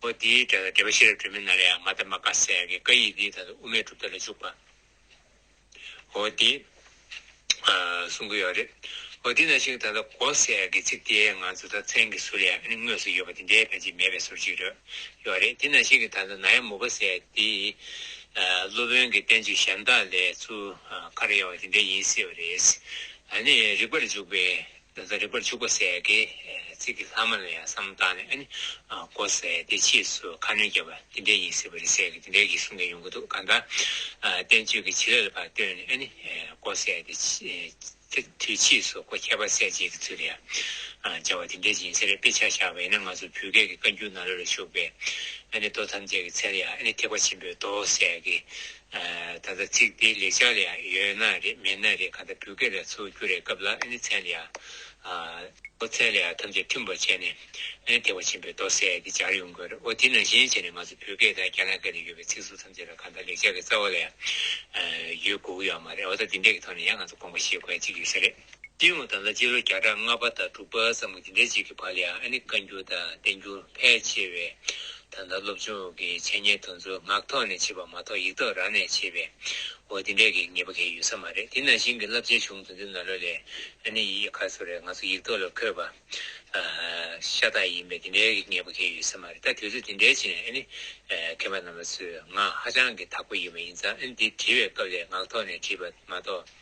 S1: པོ་འདིའི་སྒྲ་དང་འབྲེལ་པ་ཤེས་རབ་སྒྲོན་མེ་ན་རེའང་མ་ཏཱ་མ་ཀཱ་སེ་ཡ་གི་བཀའ་ཡིག་འདིའི་དག་ཏུ་དབུ་མའི་གྲུབ་མཐའ་ལ་འཇུག་པ། འོ་དེ། གསུང་གི་ཡོད་རེད། འོ་དེ་ན་ཞིག་ད་ལྟ་གོ་སེ་ཡ་གི་ཚིག་དེའི་ང་ཚོ་དག་མཚན་གི་ཟུར་ཡང་ཨ་ནི་དངོས་སུ་ཡོད་པ་དེ་འདྲའི་ཕལ་ཆེར་མེད་པའི་ཟུར་ཅིག་རེད། ཡོད་རེད་དེ་ན་ཞིག་གི་ད་ལྟ་ན་ཡ་མུ་པ་སེ་ཡ་དེ། སློབ་དཔོན་གི་བསྟན་བཅོས་གཞན་དག་ལས་ཚུར་ཁར་ཡོང་བ་དེ་འདྲའི་ཡིན་སྲིད་པ་རེད། ཨ་ནི་རིགས་པར་འཇུག་པའི། བཟའ་རིག་པར་བྱུག་པ་ཟས་ཀྱི་ཚིག་གི་ལྷག་མ་ལ་ཡང་བསམ་བཏང་ནས་ཨ་ནི། ཀོ་ཟས་དེ་ཕྱིས་སུ་ཁ་སྣོན་རྒྱབ་པ་འདི་འདྲའི་ཡིན་ཟེར་བ་རེད་ཟས་ཀྱི་འདི་འདྲའི་གིས་གསུང་མཁན་ཡོང་གི་འདུག་གང་ལྟར། བསྟན་བཅོས་ཀྱི་བྱེད་ལས་ལ་བར་བཏོན་ནས་ཨ་ནི། ཀོ་ཟས་དེ་དུས་ཕྱིས་སུ་ཀོ་ཁྱད་པར་ཟས་བཅས་ཀྱི་ཚུལ་ལ་ཡང་སྦྱར་བ་འདི་འདྲའི་ཡིན་ཟེར་དཔེ་ཆ་བཞག་པ་ཡིན་ན་ང་ཚོ་བོད་སྐད་ཀྱི་བཀའ་འགྱུར་ནང་ལོ་ལ་བཞུགས་པའི་ཨ་ནི་མདོ་ཐམས་ཅད་ཀྱི་ཚད་ལ་ཡང་ཨ་ནི་ཐེག་པ་ཆེན་པོའི་མདོ་ཟས་ཀྱི་ད་ལྟ་ཚིག་དེའི་ལེགས་ཆ་ལ་ཡང་ཡོད་ན་རེད་མེད་ན་རེད་གང་ལྟར་བོད་སྐད་ལ་འཚོལ་རྒྱུ་རེད་སྐབས་ལ་ཨ་ནི་ཚན་ལ་ཡའོ་ཚན་ལ་ཡའོ་ཐམས་ཅད་མཐུན་པར་བྱས་ནས་ཨ་ནི་ཐེག་པ་ཆེན་པོའི་མདོ་གསལ་དེ་སྦྱར་ཡོང་དགོས་རེད་འོ་དེ་ནང་བཞིན་བྱས་ནས་ང་ཚོ་བོད་སྐད་དང་རྒྱ་ནག་སྐད་ལ་ཡོད་པའི་ཚིག་ཟུར་ཐམས་ཅད་ལ་གང་ལྟར་ལེགས་ཆ་གི་རྩ་བ་ལ་ཡང་ཡོད་དགོས་ཀྱི་ཡོད་མ་རེད་འོ་ད་འདི་འདྲས་ཀྱི་ཐོག་ནས་ཡང་ང་ཚོ་དགོངས་པ་བཞེས་དགོས་ཡ་གཅིག་ཡོད་ས་རེད། སྤྲིན་འོད་དང་ལ་སྤྱི་ལོ་བརྒྱ་ཕྲག་ལྔ་པ་དང་དྲུག་པ་ཙམ་གྱི་འདྲེ་གཅིག་གི་བར་ལ་ཡང་ཨ་ནི་བཀའ་འགྱུར་དང་བསྟན་འགྱུར་ཕལ་ཆེ་བས་ད་ལྟ་སློབ་ཆུང་འོག་གི་འཆད་ཉན་དུ་མཚོ་ནག་ཐོག་ནས་བྱེད་པ་མ་གཏོགས་ཡིག་ཐོག་རང་ནས་བྱེད་པས་འོ་དེ་འདྲའི་གེགས་ངེས་པ་གེགས་ཡོད་ས་མ་རེད་དེ་ནང་བཞིན་གྱི་བསླབ་བྱའི་གཞུང་དུ་འདི་ན་ལོ་ལས་ཨ་ནི་ཡི་ག་སོགས་རེད་ང་ཚོ་ཡིག་ཐོག་ལ་འཁོད་པ་ཤ་སྟག་ཡིན་པས་དེ་འདྲའི་གེགས་ངེས་པ་གེགས་ཡོད་ས་མ་རེད་ད་དུས་ཚོད་དེ་འདྲའི་ཕྱིན་ཨ་ནི་མཁན་པ་རྣམས་པ་ཚོས་ང་ཧ་ཅང་གི་དག་པ་ཡིན་པ་ཡིན་ཙང་ཨ་ནི་འདི་བྲིས་པའི་སྐབས་ལས་ངག་ཐོག་ནས་བྲིས་པ་མ་གཏོགས།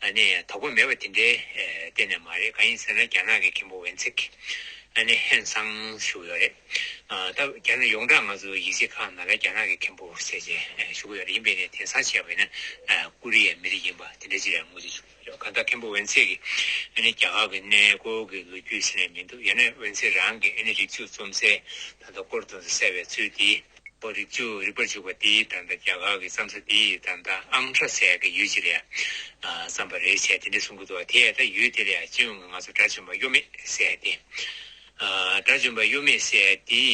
S1: ཨ་ནི་དོགས་པ་མེད་པ་དེ་འདྲའི་གཏན་ནས་མ་རེད་གང་ཡིན་ཟེར་ན་རྒྱ་ནག་གི་མཁན་པོ་ཝན་ཚིག་ཨ་ནི་ཧན་སང་བཞུགས་ཡོད་རེད་ད། རྒྱ་ནག་ཡོངས་གྲགས་ང་ཚོ་ཡིག་གཟིགས་ཁང་ནང་ལ་རྒྱ་ནག་གི་མཁན་པོ་ཟེར་བྱས་བཞུགས་ཡོད་རེད་ཡིན་པས་ནས་དེང་སང་བྱས་པ་ཡིན་ན་ཀུ་རི་ཡའི་མི་རིགས་ཡིན་པ་དེ་འདྲའི་ཅི་རེད་ངོ་ཅི་བྱུང་ཡོད་གང་ལྟར་མཁན་པོ་ཝན་ཚིག་གིས་ཨ་ནི་རྒྱ་གར་གི་གནས་སྐོར་གྱི་ལོ་རྒྱུས་ཟེར་ནས་མི་འདུག་ཡང་ན་ཝན་ཚིག་རང་གིས་ཨ་ནི་རིག་ཚུགས་རྩོམ་གསལ་ད་ལྟ་སྐོར་དུ་གསལ་བའི་ཚུལ་དེ། པོ་རིག་ཚུལ་རིག་པར་འཇུག་པ་འདི་ད་ལྟ་རྒྱ་གར་གྱི་བསམ་ས་འདི་ད་ལྟ་ཨང་ཁྲ་ཟས་ཀྱི་ཡུལ་གྱི་ལས་བསམ་པ་རེད་བྱས་དེ་འདྲས་གསུང་གི་འདུག་དེས་ད་ཡུལ་དེ་ལས་སྤྱི་ཡོངས་ཀྱི་ང་ཚོ་དགྲ་བཅོམ་པ་གཡོ་མེད་ཟས་དེ་དགྲ་བཅོམ་པ་གཡོ་མེད་ཟས་དེའི་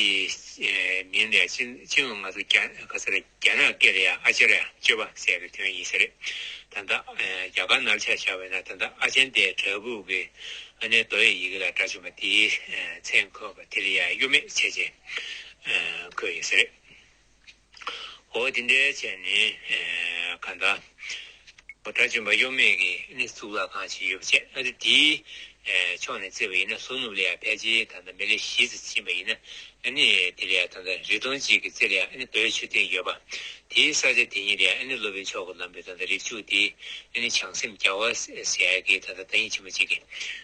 S1: མིང་ལས་སྤྱི་སྤྱི་ཡོངས་ང་ཚོ་རྒྱ་ག་ཚ་རྒྱ་ནག་ཀེ་རེ་ཡ་ཨ་ཅེ་ར་ཡ་སྤྱོད་པ་ཟས་ཀྱི་དོན་ཡིན་ས་རེད་ད་ད་རྒྱ་གར་ནར་ཆགས་བྱ་བས་ན་ད་ད་ཨ་ཅན་དེ་དྲ་བུག་གི་ཨ་ནེ་རྡོ་ཡི་ཡི་གེ་ལ་དགྲ་བཅོམ་པ་དེའི་མཚན་འཁོད་པ་དེ་རེད་ཡ་གཡོ་མེད་བྱས་བྱས། ཁོས་ཡིན་ས་རེད། འོ་དེ་འདྲའི་ཆ་ནས་ག་འདྲ། འོ་གྲྭ་བཙུན་པ་གཡོ་མེད་ཀྱི་ནི་གཙུག་ལག་ཁང་ཞིག་ཡོད་པ་བྱས་ཨ་རི་དེའི་ཕྱོགས་ནས་བརྩི་བ་ཡིན་ན་ཟུར་ནུབ་ལས་ཡང་ཕལ་ཆེར་ད་ལྟ་མི་ལེ་ཞི་ཙི་ཕྱིན་པ་ཡིན་ན་ནི་དེ་ལས་ད་ལྟ་རི་སྟོང་གཅིག་གི་རྩེ་ལས་ནི་བོད་ཆུ་སྟེང་ཡོད་པ་དེའི་ས་ཆ་དེ་ཉིད་ལས་ནི་སློབ་དཔོན་མཆོག་གི་ལམ་བུས་ད་ལྟ་རིགས་བཅུ་དེ་ནི་བྱང་སེམས་རྒྱ་བ་སའི་གེགས་ད་ལྟ་དག་ཡིན་ཕྱིན་པ་གཅིག་གིས།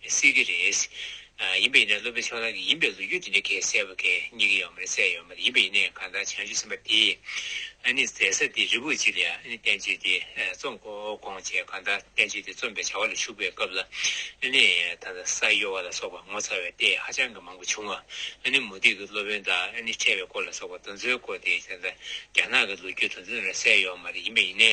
S1: སྲིད་ཀྱི་རེད། ཡིན་པ་ཡིན་ན་སློབ་དཔོན་ཕྱོགས་གླང་གིས་ཡིན་པའི་ལོ་རྒྱུས་འདི་འདྲ་ཁས་བསལ་བ་གལ་རྙེད་ཀྱི་ཡོད་མ་རེད་གསལ་ཡོད་མ་རེད་ཡིན་པ་ཡིན་ནའི་གང་ལྟར་བྱང་ཆུབ་སེམས་དཔའ་དེས་ཨཱ་ནི་ཟད་ས་དེ་རི་བོ་གཅིག་ལ་ཨཱ་ནི་བསྟན་བཅོས་དེ་རྩོམ་གོ་དགོངས་བྱས་གང་ལྟར་བསྟན་བཅོས་དེ་རྩོམ་པའི་བྱ་བ་ལ་ཞུགས་པའི་སྐབས་ལ་ཨཱ་ནི་ད་ལྟ་ས་གཡོ་བ་ལ་སོགས་པ་ངོ་མཚར་བའི་ལྟས་ཧ་ཅང་གི་མང་པོ་བྱུང་ང་ཨཱ་ནི་མུ་སྟེགས་ཀྱི་སློབ་དཔོན་དག་ཨཱ་ནི་ཁྲལ་བའི་སྐོར་ལ་སོགས་པ་དོན་ཚོའི་སྐོར་དེ་ད་ལྟ་རྒྱ་ནག་གི་ལོ་རྒྱུས་དོན་ཚོ་འདི་འདྲ་གསལ་ཡོད་མ་རེད་ཡིན་པ་ཡིན་ནའི་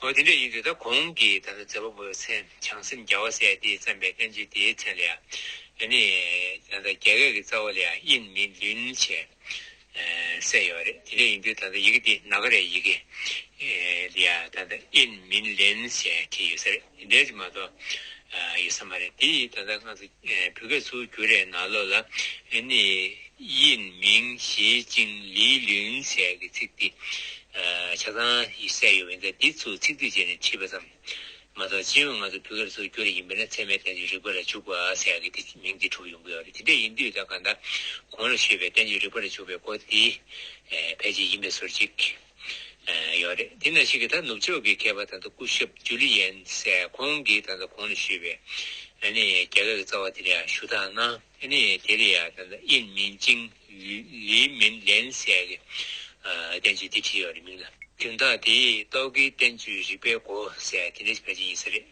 S1: ཨོ་དེ་འདྲ་ཡིན་དུས་ད་གོང་གི་ད་ལྟ་མཛད་པ་པོ་བའི་མཚན་བྱང་སེམས་རྒྱ་བ་སྲས་དེས་བརྩམས་པའི་བསྟན་བཅོས་དེའི་མཚན་ལ་ཡང་ནི། ད་ལྟ་རྒྱ་སྐད་ཀྱི་རྩ་བ་ལ་ཡང་དབྱིན་མིན་ལུན་ཞེས་གསལ་ཡོད་པ་རེད་དེ་འདྲ་ཡིན་དུས་ད་ལྟ་ཡི་གེ་འདི་ནཱ་ག་རའི་ཡི་གེ་ལ་ཡང་ད་ལྟ་དབྱིན་མིན་ལེན་ཞེས་བྲིས་ཡོད་ས་རེད། འདས་ཀྱི་མ་གཏོགས་ཡིད་ས་མ་རེད་དེ་ཡིས་ད་ལྟ་སྔགས་སུ་བོད་སྐད་ཚུར་བསྒྱུར་རེ་ན་ལོ་ལ་ནི་དབྱིན་མིང་ཞེ་ཅིང་ལིའི་ལིའུན་ཟེར་གྱི་ཚིག་འདི་ཆ་ཚང་ཡིད་སད་ཡོད་མི་འདོད་འདི་ཚུར་ཚིག་སྡུད་བྱེད་ནས་བྲིས་པ་ཙམ་མ་གཏོགས་སྤྱི་ཡོངས་སྔགས་སུ་བོད་སྐད་ཚུར་བསྒྱུར་རེ་ཡིན་པས་ན་ཚད་མའི་བསྟན་བཅོས་རིག་པ་ར་བྱུག་པ་ཟེར་གྱི་དེ་མིང་འདི་གྲུབ་ཡོང་གི་ཡོད་རེད་དེ་འདྲ་ཡིན་དུས་ད་ག་ད་གོང་ར་ཤོད་པའི་བསྟན་བཅོས་རིག་པ་ར་བྱུག་པའི་སྐོར་འདི་ཕལ་ཆེར་ཡིན་པས་ཟུར་གཅིག། ཡོད་རེད་དེ་ན་ཞིག་གིས་ད་ནུབ་ཕྱོགས་ཀྱི་མཁས་པ་ད་ལྟ་སྐུ་ཞབས་ཇུ་ལི་ཡན་སས་ཁོང་གིས་ད་ལྟ་གོང་ནས་ཞུས་པའི་ཨ་ནི་རྒྱ་གར་གྱི་རྩ་བ་དེ་རེ་ཡ་ཞུ་དག་ན་ཨ་ནི་དེ་རེ་ཡ་ད་ལྟ་དབྱིན་མིན་ཅིང་ལི་མིན་ལན་སས་གི་བསྟན་བཅོས་འདི་བྲིས་ཡོད་རེད་མིང་ལ། དོན་དག་དེའི་རྟོག་གེའི་བསྟན་བཅོས་རིག་པའི་སྒོ་ཟས་དེ་འདྲ་ཞིག་ཕལ་ཆེར་ཡིན་ས་རེད།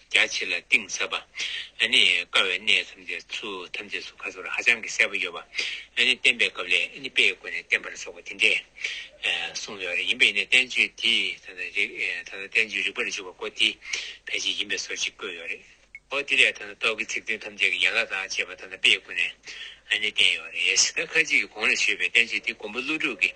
S1: རྒྱ་ཆེ་ལ་གཏིང་ཟབ་པ། ནི་དཀའ་བའི་གནས་ཐམས་ཅད་ཚུལ་ཐམས་ཅད་སུ་ཁ་སོར་ཧ་ཅང་གི་གསལ་པོ་ཡོད་པ། ནི་བསྟན་པའི་སྐབས་ལས་ནི་དཔེའི་སྒོ་ནས་བསྟན་པར་སོགས་པ་དེ་འདྲས་གསུངས་ཡོད་རེད་ཡིན་པས་ནི་བསྟན་བཅོས་འདི་ད་ལྟ་རིག་ད་ལྟ་བསྟན་བཅོས་རིག་པར་འཇུག་པ་པོ་འདི་ཕལ་ཆེར་ཡིན་པས་སོ་ཅིག་བཀོད་ཡོད་རེད། ཨོ་དེ་ལས་ད་ལྟ་རྟོག་གི་ཚིག་དོན་ཐམས་ཅད་ཀྱི་ཡན་ལག་དང་བཅས་པ་ད་ལྟ་དཔེའི་སྒོ་ནས་ནི་བསྟན་ཡོད་རེད་ཡ། ད་ཁ་ཅིག་གིས་གོང་ལ་ཞུས་པའི་བསྟན་བཅོས་འདི་མགོན་པོ་ཀླུ་སྒྲུབ་ཀྱིས་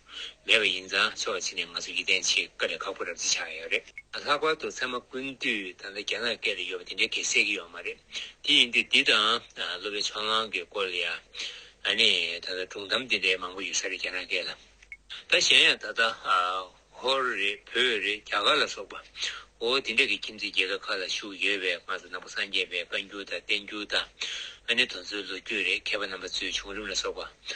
S1: མེད་པ་ཡིན་ཙང་ཆོག་གཅིག་ནས་ང་ཚོ་ཡིད་བརྟན་ཆེད་བཀའ་ལས་ཁག་པོ་རབ་རྩིས་ཆགས་ཡོད་རེད། ལྷག་པར་དུ་ཚང་མ་ཀུན་དུས་ད་ལྟ་རྒྱ་ནག་སྐད་ལས་ཡོད་པ་དེ་འདྲའི་གེགས་སེལ་གྱི་ཡོད་མ་རེད། དེ་ཡིན་དུས་འདི་དང་སློབ་དཔོན་ཕྱོགས་གླང་གི་སྐོར་ལ་ཡང་ཨ་ནི་ད་ལྟ་སྒྲུང་གཏམ་དེ་འདྲའི་མང་པོ་ཡོད་ས་རེད་རྒྱ་ནག་སྐད་ལ། ད་གཞན་ཡང་ད་ལྟ་ཧོར་རེད་བོད་རེད་རྒྱ་གར་ལ་སོགས་པ་འོ་དེ་འདྲ་གི་ཁྱིམ་མཚེས་རྒྱལ་ཁབ་ཁག་ལ་བཞུགས་ཡོད་པས་ང་ཚོ་ནང་པ་སངས་རྒྱས་པའི་བཀའ་འགྱུར་དང་བསྟན་འགྱུར་དང་ཨ་ནི་དོན་གཙོའི་ལོ་རྒྱུས་རེད་མཁས་པ་རྣམ་པ་ཚོའི་བྱུང་རིམ་ལ་སོགས་པ་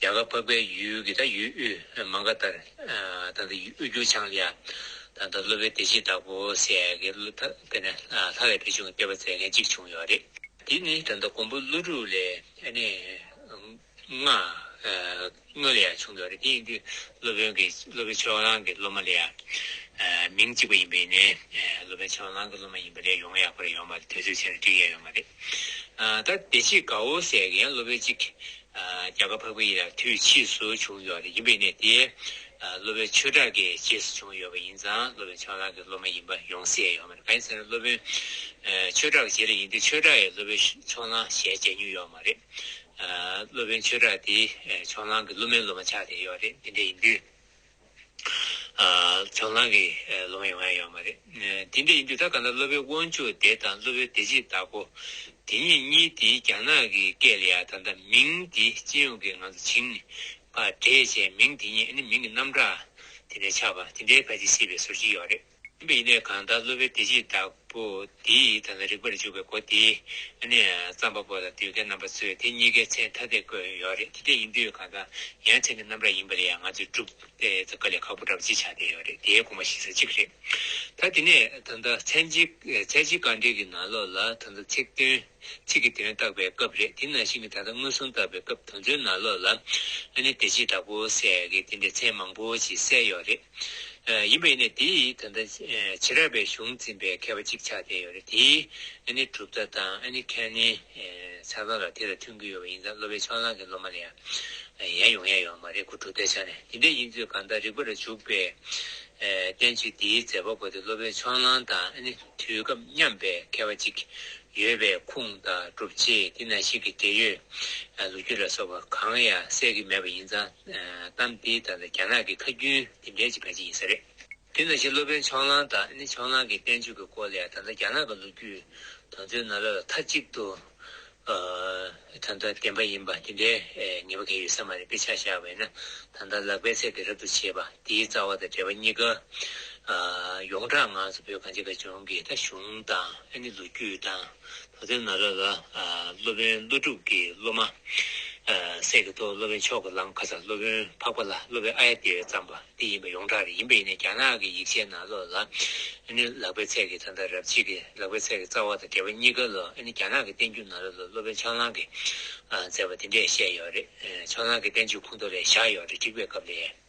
S1: རྒྱ་གར་འཕགས་པའི་ཡུལ་གྱི་ད་ཡུལ་དབུས་མ་འགའ་ལྟར། དང་ད་ཡུལ་དབུས་འགྱུར་བྱང་ལ། དང་ད་སློབ་པའི་སྡེ་གཅིག་བདག་པོ་སྲས་ཀྱི་བློ་ཐག་དེ་ནས་ལྷ་ལས་བེ་ཆུང་གི་སྐྱེ་བ་མཛད་མཁན་གཅིག་བྱུང་ཡོད་རེད། དེ་ནི་དང་ད་མགོན་པོ་ཀླུ་སྒྲུབ་ལས་ནི། སྔོན་ལ་ཡང་བྱུང་ཡོད་རེད་དེ་ཡིན་དུས་སློབ་དཔོན་གྱི་སློབ་དཔོན་ཆོས་གླང་གི་སློབ་མ་ལས། མིང་གཅིག་པ་ཡིན་པས་ནི་སློབ་དཔོན་ཆོས་གླང་གི་སློབ་མ་ཡིན་པ་ལས་ཡོང་ཡག་པོ་རེད་ཡོང་མ་རེད་དུས་ཚོད་ཆེ་རུ་བསྒྲིགས་ཡས་ཡོད་མ་རེད། ད་བདེ་སྐྱིད་དགའ་བོ་ཟེར་མཁན་སློབ་དཔོན་གཅིག་རྒྱ་གར་ཕ་བུ་ཡིན་ལ་དུས་ཕྱིས་སུ་བྱུང་ཡོད་རེད་ཡིན་པའི་གནས་དེ་སློབ་དཔོན་ཆོས་གྲགས་ཀྱི་རྗེས་སུ་བྱུང་ཡོད་པ་ཡིན་ཙང་སློབ་དཔོན་ཆང་ལགས་ཀྱི་སློབ་མ་ཡིན་པ་ཡོང་སྲིད་ཡོད་མ་རེད་ག་ཡིན་ཟེར་ན་སློབ་དཔོན་ཆོས་གྲགས་ཀྱི་རྗེས་ལ་ཡིན་དུས་ཆོས་གྲགས་ཡིས་སློབ་དཔོན་ཆོ་ལང་ཞལ་མཇལ་མྱོང་ཡོད་མ་རེད། སློབ་དཔོན་ཆོས་གྲགས་དེས་ཆོ་ལང་གི་སློབ་མའི་སློབ་མ་ཆགས་བསྡད་ཡོད་རེད་དེ་འདྲ་ཡིན་དུས། ཚོགས་ལངས་ཀྱི་ལོ་མ་ཡོང་ཡ་ཡོད་མ་རེད། དེ་འདྲ་ཡིན་དུས་ད་ག་ན་སློབ་དཔོན་དབང་ཕྱུག་དེ་དང་སློབ་དཔོན་བདེ་སྐྱིད་བདག་པོ་དེ་གཉིས་གཉིས་དེ་རྒྱ་ནག་གི་སྐད་ལ་ཡ་ད་ད་མིང་དེ་སྤྱི་ཡོངས་ཀྱི་ངང་ཚུལ་བྱིངས་པ་འདྲེས་བྱས་མིང་དེ་གཉིས་ཨ་ནི་མིང་གི་རྣམ་གྲངས་དེ་འདྲ་ཆགས་པ་དེ་འདྲའི་བར་གྱི་སྲིད་པའི་ཟུར་གཅིག་ཡོད་རེད། ཡིན་པས་ཡིན་ནས་གང་དག་སློབ་པའི་བདེ་སྐྱིད་བདག་པོ་དེའི་ཡིད་དང་ལ་རིག་པར་འཇུག་པའི་སྒོ་དེ་ནི་བརྩམས་པ་པོ་དང་བསྡུས་མཁན་རྣམ་པ་ཚོས་དེ་གཉིས་ཀའི་མཚན་ཐ་དད་བཀོད་ཡོད་རེད་དེ་འདྲ་ཡིན་དུས་གང་དག་ཡང་མཚན་གྱི་རྣམ་གྲངས་ཡིན་པ་ལས་ཡང་ང་ཚོས་སྒྲུབ་སྟེ་དཀའ་ལས་ཁག་པོ་འདྲ་པོ་ཅི་ཆགས་བསྡད་ཡོད་རེད་དེའི་དགོངས་པ་ཞིག་ས་གཅིག་རེད་ད་དེ་ནས་ད་ལྟ་མཚན་གཅིག་བཀའ་འགྲེལ་གྱི་ནང་ལོགས་ལ་ད་ལྟ་ཚིག་དོན་ཚིག་གི་དོན་བརྟག་པའི་སྐབས་རེད་དེ་ནང་བཞིན་གྱི་ད་ལྟ་མངོན་སུམ་བརྟག་པའི་སྐབས་དོན་ཚོའི་ནང་ལོགས་ལ་ནི་བདེ་སྐྱིད་བདག་པོ་ཟེར་གྱི་དེ་འདྲའི་མཚན་མང་པོ་ཅིག་གསལ་ཡོད་རེད། ཡིན་པ་ཡིན་ནས་དེ་ཡིས་ད་ལྟ་བྱེ་བྲག་པའི་གཞུང་འཛིན་པའི་མཁས་པ་གཅིག་ཆགས་བསྡད་ཡོད་རེད་དེས་ཨ་ནི་གྲུབ་མཐའ་དང་ཨ་ནི་ཁན་ནི་ཆགས་སྡང་ལ་དེ་ལ་མཐུན་གྱི་ཡོད་པ་ཡིན་ཙང་སློབ་པའི་ཕྱོགས་ནང་གི་སློབ་མ་ལ་ཡང་ཡན་ཡོང་ཡས་ཡོད་མ་རེད་གོ་གྲུབ་མཐའི་ཆ་ནས་དེ་འདྲའི་ཡིན་ཚོད་གང་ལྟར་རིག་པ་རུ་འཇུག་པའི་བསྟན་བཅོས་འདིའི་མཛད་པ་པོ་དེ་སློབ་པའི་ཕྱོགས་ནང་དང་ཨ་ནི་དུས་སྐབས་མཉམ་པའི་མཁས་པ་གཅིག་ཡོད་པའི་ཁུངས་དང་སྒྲུབ་བྱེད་དེ་ན་ཞིག་གི་འབྲེལ་ཡོད་ལོ་རྒྱུས་ལ་སོགས་པ་གང་ཡང་གསལ་གྱི་མེད་པ་ཡིན་ཙང། གཏམ་དེའི་སྟབས་ལ་རྒྱ་ནག་གི་ཁ་རྒྱུན་དེ་འདྲའི་ཅིག་ག་ཅིག་ཡིན་ས་རེད། དེ་ན་བཞིན་སློབ་དཔོན་ཆོག་ལང་དང་ནི་ཆོག་ལང་གི་བསྟན་བཅོས་ཀྱི་སྐོར་ལས་ད་ལྟ་རྒྱ་ནག་གི་ལོ་རྒྱུས་དང་མཚོན་ན་ལ་ལ་མཐའ་གཅིག་ཏུ་ད་ལྟ་བདེན་པ་ཡིན་པ་དེ་འདྲའི་ངེས་པ་གལ་ཡོད་ས་མ་རེད་དཔེ་ཆ་བཞག་པས་ན་ད་ལྟ་ལག་པས་ཚད་དེ་རབ་ཏུ་བྱེད་པ་དེའི་རྩ་བ་དང་འབྲེལ་བ་གཉིས་ཀ་ཡོངས་གྲགས་ངང་ཚུ་བོད་གངས་ཅན་དགའ་ལྗོངས་ཀྱི་ད་གཞུང་དང་ཨ་ནི་ལོ་རྒྱུས་དང། ད་ཐེངས་ན་ར་ལ་སློབ་དཔོན་ཀླུ་སྒྲུབ་ཀྱི་སློབ་མ། སྲས་ཀྱི་ཐོག་སློབ་དཔོན་མཆོག་གི་ལམ་ཁ་ས་སློབ་དཔོན་འཕགས་པ་ལ་སློབ་པའི་ཨ་ཡ་དེ་བས་བརྩམས་པ་འདི་ཡིན་པ་ཡོངས་གྲགས་རེད་ཡིན་པས་ཡིན་ནའི་རྒྱ་ནག་གི་ཡིག་ཆའི་ནང་ལོ་ལ་ཨེ་ནི་ལག་པའི་ཚད་ཀྱི་ད་ལྟ་རབ་བྱེད་ཀྱི་ལག་པའི་ཚད་ཀྱི་རྩ་བ་དང་འབྲེལ་བ་གཉིས་ཀ་ལོ་ཨེ་ནི་རྒྱ་ནག་གི་བསྟན་འགྱུར་ན་ར་ལོ་སློབ་དཔོན་ཆང་ལང་གིས་མཛད་པ་དེ་འདྲས་བཤད་ཡོད་རེད་ཆང་ལང་གི་བསྟན་བཅོས་ཁུངས་ཐོ་ལས་བཞག་ཡོད་རེད་འགྲིག་པའི་སྐབས་ལས།